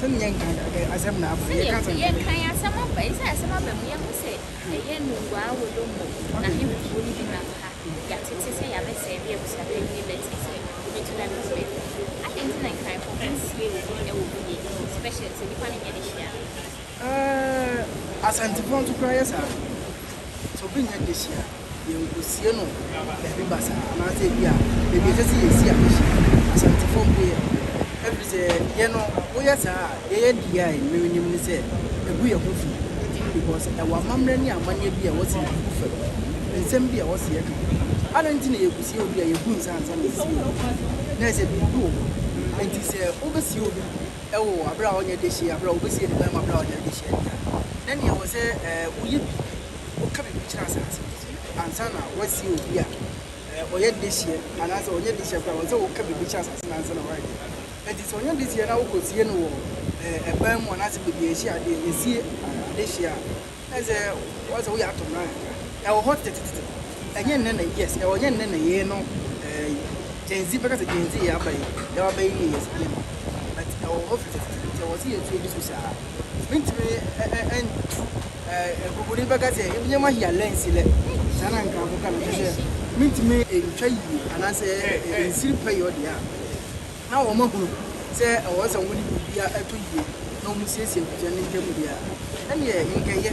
Sɛdeɛ yɛnkan ɛ, asɛm na aba. Sɛdeɛ Yɛka sɛm na ɛbɛyɛ. yɛnkan asɛm aba yi, sɛ asɛm aba mu, yɛahu sɛ ɛyɛ nnuruwaa wolonbo na ahenkuro no bi nam ha. Yɛatete sɛ yɛabɛsɛe bere a abusua panyin no bɛtee sɛ obetu n'anim so afi mu. Adɛn nti na Nkaefo ho nsiee obi wɔ mu yie, especially sɛ nnipa no nyɛ ne hyia no? Ɛɛ, Asantepɔn nso koraa yɛ saa. Sɛ obi nyɛ dehye a, yɛnkosie no baabi basaa anaasɛ ebi a baabi a ɛsɛ sɛ yɛsi adehye no, Asantefoɔ mpo yɛ no. Ɛfiri sɛ deɛ no, woyɛ saa a, deɛ yɛde yɛ a mmere nnim ne sɛ ɛgu yɛn ho fi because ɛwɔ amammerɛ ne amanneɛ bi a ɛwɔ sɛ yɛde gu fam, nsɛm bi a ɛwɔ sɛ yɛka. Adɛn nti na yɛkosie obi a yɛbu nsa ansa na yɛsie no? Na ɛsɛ biribi wɔ hɔ. Enti sɛ wobɛsie obi. wɔ bere a ɔnyɛ dehye yɛ, bere a obesie ne mmarima bere a ɔnyɛ dehye yɛ ntam, na nea ɛwɔ sɛ woyɛ biribi, woka biribi kyerɛ asase no so ansa na woasie obi a ɔyɛ dehye yɛ anaasɛ ɔnyɛ dehye yɛ koraa, ɛwɔ sɛ woka biribi kyerɛ asase no ansa na woayɛ dehye. Enti sɛ ɔnyɛ dehye yɛ na wokosie no wɔ ban mu anaasɛ baabi a yɛhye ade, yɛsie adehye a, Ɛsɛ sɛ woyɛ ato mmra kakra. Ɛwɔ hɔ tetetete. Ɛnyɛ nnɛ na yes, ɛwɔ ɛnyɛ nnɛ na yei no ɛɛyi. Gen Z bɛka sɛ Gen Z yɛ aba yi, yɛn aba yi yɛ yes binom. But ɛwɔ hɔ tetetete nti ɛwɔ sɛ yɛtu ani so saa. Mentumi ɛntu ɛɛ Nkurkuni bɛka sɛ ebi nneɛma hia lɛ nsi lɛ. Saa na Nkrafo ka no kyerɛ sɛ mentumi ɛntwa yie anaasɛ ɛnsiri pɛyɛ ɔdeɛ a. Ná wɔahunu sɛ ɛwɔ sɛ wɔde biribiara to yie na wɔsiesie abusua no ntam biara. Ɛnneɛ, nkɛyɛ.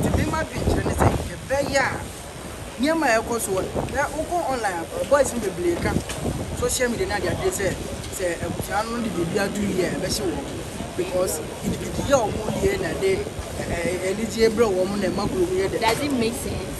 Enti me m'adwenkyerɛ ne sɛ, ɛbɛyɛ a nneɛma a ɛrekɔ so no, na wokɔ online a, boys no bebree ka social media ne adeade sɛ, sɛ abusua no de biribiara to yie a, ɛbɛhye wɔn. Because gidigidiɛ a wɔyɛ na ɛde anigyeɛ brɛ wɔn na ɛma kurom yɛ dɛ. Does it make sense?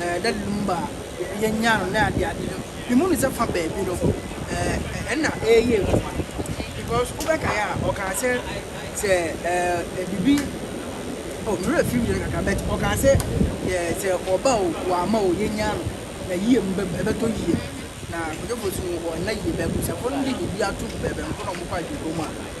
Eh, that lumba yɛnya no na ade ade no memu no sɛ fa baabi no eh, ɛna ɛyɛ adwuma because wobɛkae a ɔkaa sɛ sɛ eh, biribi oh, mmerɛ firi yɛ no kakra but ɔkaa sɛ eh, sɛ ɔba o wɔama o yɛnya no na yie no ɛbɛtɔ yie na kɔdwofo so no wɔnna yie bɛbusafo no de biribi ato bɛbɛnko na ɔmokɔ adwuma mu a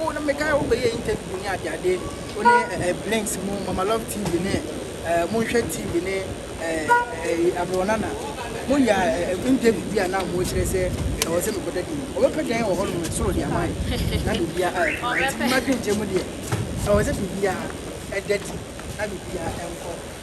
Wo na me kae wo bɛ yɛ interview ne ade ade wo ne eh, eh, blinks mu mama love tv ne eh, mo nhwɛ tv ne eh, eh, abɛwɔnana mo yɛ eh, interview bi a na mo kyerɛ sɛ ɛwɔ sɛ mekɔda din ɔbɛpɛ dan wɔ hɔ nom soro deɛ ama yɛ na biribia ayɛ kama nti mma dwenkyɛ mu deɛ ɛwɔ sɛ biribia ɛda di na biribia ɛnkɔ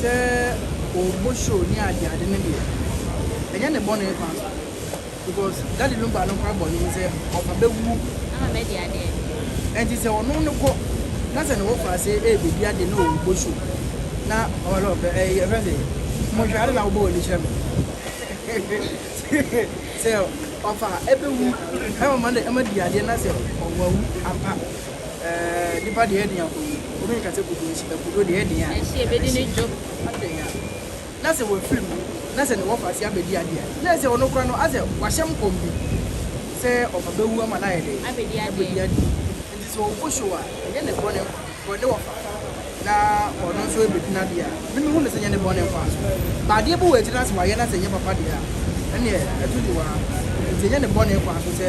Sɛ ɔbɔ show ne ade ade no deɛ ɛnyɛ ne bɔne paa because Daddy Lumba no koraa bɔne ne sɛ ɔba bɛwuo ɛnti sɛ ɔno no kɔ na sɛ ne wɔkɔ ase ɛrebɛdi ade na ɔbɔ show na ɔlɔ ɛfɛ sɛ mohwɛ ade na wobɔ wɔ ne kyerɛ me sɛ ɔfa ɛbɛwu ɛma di adeɛ na sɛ ɔwawu ampa Eh, nipa deɛ ɛden akɔ yie. Obi nka sɛ kuduo nhyɛ, kuduo deɛ ɛden a. Ɛhye, ɛbɛdi ne dwo. Adɛn a, na sɛ wafiri mu, na sɛ ne wɔfa ase abɛdi adeɛ a, na ɛsɛ ɔno koraa no, asɛ wahyɛ nkɔm bi sɛ ɔfa bɛwu ama no ayɛ dɛn? Abɛdi adeɛ. Abɛdi adeɛ. Nti sɛ ɔgu show a, ɛnyɛ ne bɔne nkwa, because ne wɔfa, na ɔno nso ɛbɛdi no adeɛ a, me mehu no sɛ ɛnyɛ ne bɔne nkwa. But adeɛ bi wɔ akyire no a sɛ wayɛ na sɛ ɛnyɛ papa deɛ a, ɛneɛ ɛto dwowa. Nti ɛnyɛ ne bɔne nkwa nso sɛ.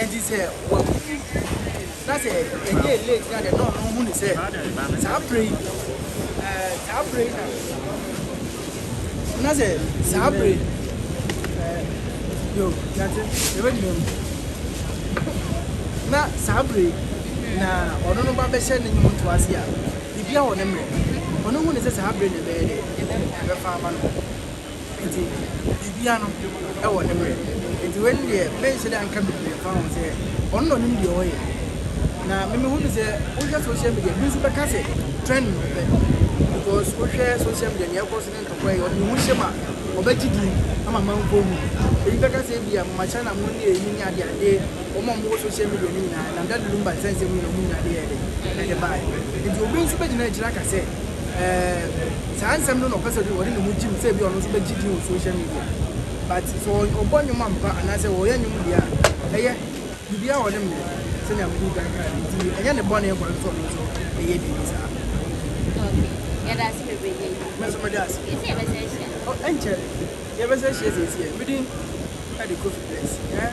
Enti sɛ wawu bi na sɛ ɛyɛɛ late na deɛ na ɔno hu ne sɛ saa berɛ yi ɛɛ saa berɛ yi na na sɛ saa berɛ yi ɛɛ yo yɛte yɛbɛgyina mu na saa berɛ yi na ɔno no ba bɛhyɛ ne nnwom to ase a biribiara wɔ ne mmerɛ ɔno hu ne sɛ saa berɛ na ɛbɛyɛ dɛ ɛbɛfa ama no Ntsi biribiara no wɔ ne mber. Ntsi wei no deɛ mennsɛ dɛ anka bebree mfa ho sɛ ɔno na ɔnim deɛ ɔyɛ. Na me mehu no sɛ wohwɛ social media bi nso bɛka sɛ trend no pɛ because wohwɛ social media nea ɛkɔ so ne ntɔkwa yi ɔde ne ho hyɛ ma ɔbɛgye din ama manfoɔ hu no. Ebi bɛka sɛ ebia Mama China mo ne eyi ne ade ade wɔn a wɔwɔ social media no nyinaa nam Daddy Lumba nsɛnsɛm mu na wɔn nyinaa de yɛɛ dɛ? Ɛde baeɛ. Nti obi nso bɛgyina akyire aka sɛ. eh, saa nsɛm no na ɔpɛ sɛ ɔde ne ho gyim sɛ ebi ɔno nso bɛgye din wɔ social media but sɛ ɔbɔ nnwom ampa anaasɛ ɔyɛ nnwom deɛ a ɛyɛ biribiara wɔ ne mmerɛ sɛnea mede kan kaa no nti ɛnyɛ ne bɔne kwa nso ɔno nso ɛyɛ biribi saa yɛda ase bebree yɛ yi mɛso mɛda ase yɛsɛ yɛbɛsɛ ahyia ɛnkyɛ yɛbɛsɛ ahyia sɛ ɛsiɛ medin ɛde kofi bless eh?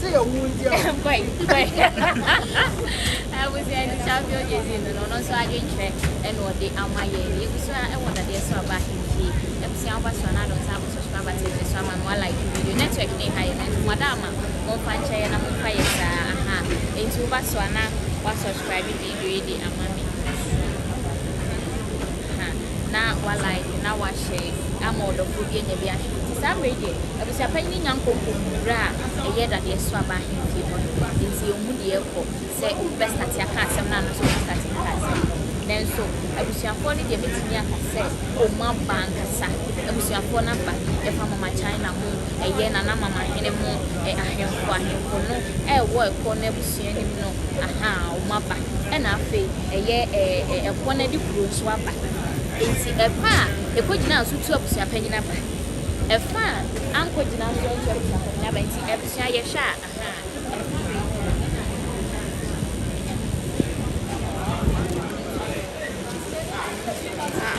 sɛ yɛwo nti a kɔe kɔe abusua ni safi ojezi no no ɔno nso adwenkyerɛ ɛna ɔde ama yɛ ne yɛbusua ɛwɔ dadeɛ so aba ahemfie abusua ɔba so anaa dɔnsa akɔ subscribe akyɛ ne so ama no like video network ne ha yɛ no nti mada ama mo mpa nkyɛ yɛ na mo mpa yɛ saa aha nti woba so anaa wa subscribe bi Afei de ama me nsu ha na wa like na wa share ama ɔdɔfoɔ bi anya bi ahwɛ nti saa mmerɛ yi deɛ abusuapanyin no nya nkonko nwura a ɛyɛ dadeɛ so aba ahenfie hɔ no nti ɔhu deɛ ɛkɔ sɛ obi bɛ starte aka asɛm no ano nso ɔbɛ starte aka asɛm no nanso abusuafoɔ no deɛ mɛtumi aka sɛ ɔmu aba ankasa abusuafoɔ no aba yɛfa mama China ho ɛyɛ nana mama hene ho ahemfo ahemfo no ɛwɔ ɛkɔ no abusua pii anim no ahaa wɔn aba ɛna afei ɛyɛ ɛkoɔ no de kuro nso aba nti ɛfa a ɛkɔgyina nso tu abusua panyin aba ɛfa a ankɔgyina nso tu abusua panyin aba nti abusua yɛhwɛ a ahaa